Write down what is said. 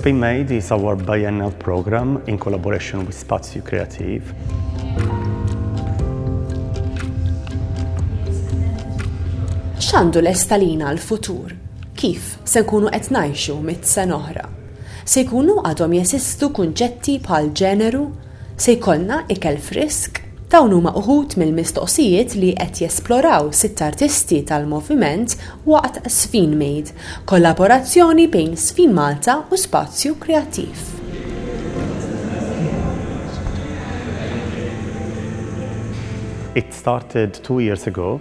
Spain Made is our biennial program in collaboration with Spazio Creative. X'għandu l-estalina l-futur? Kif se nkunu qed ngħixu mit sen oħra? Se jkunu għadhom jeżistu kunċetti bħal ġeneru? Se jkollna ikel frisk? Dawn huma uħud mill-mistoqsijiet li qed jesploraw sitt artisti tal-moviment waqt Sfinmade, kollaborazzjoni bejn Sfinmalta u Spazju Kreattiv. It started two years ago.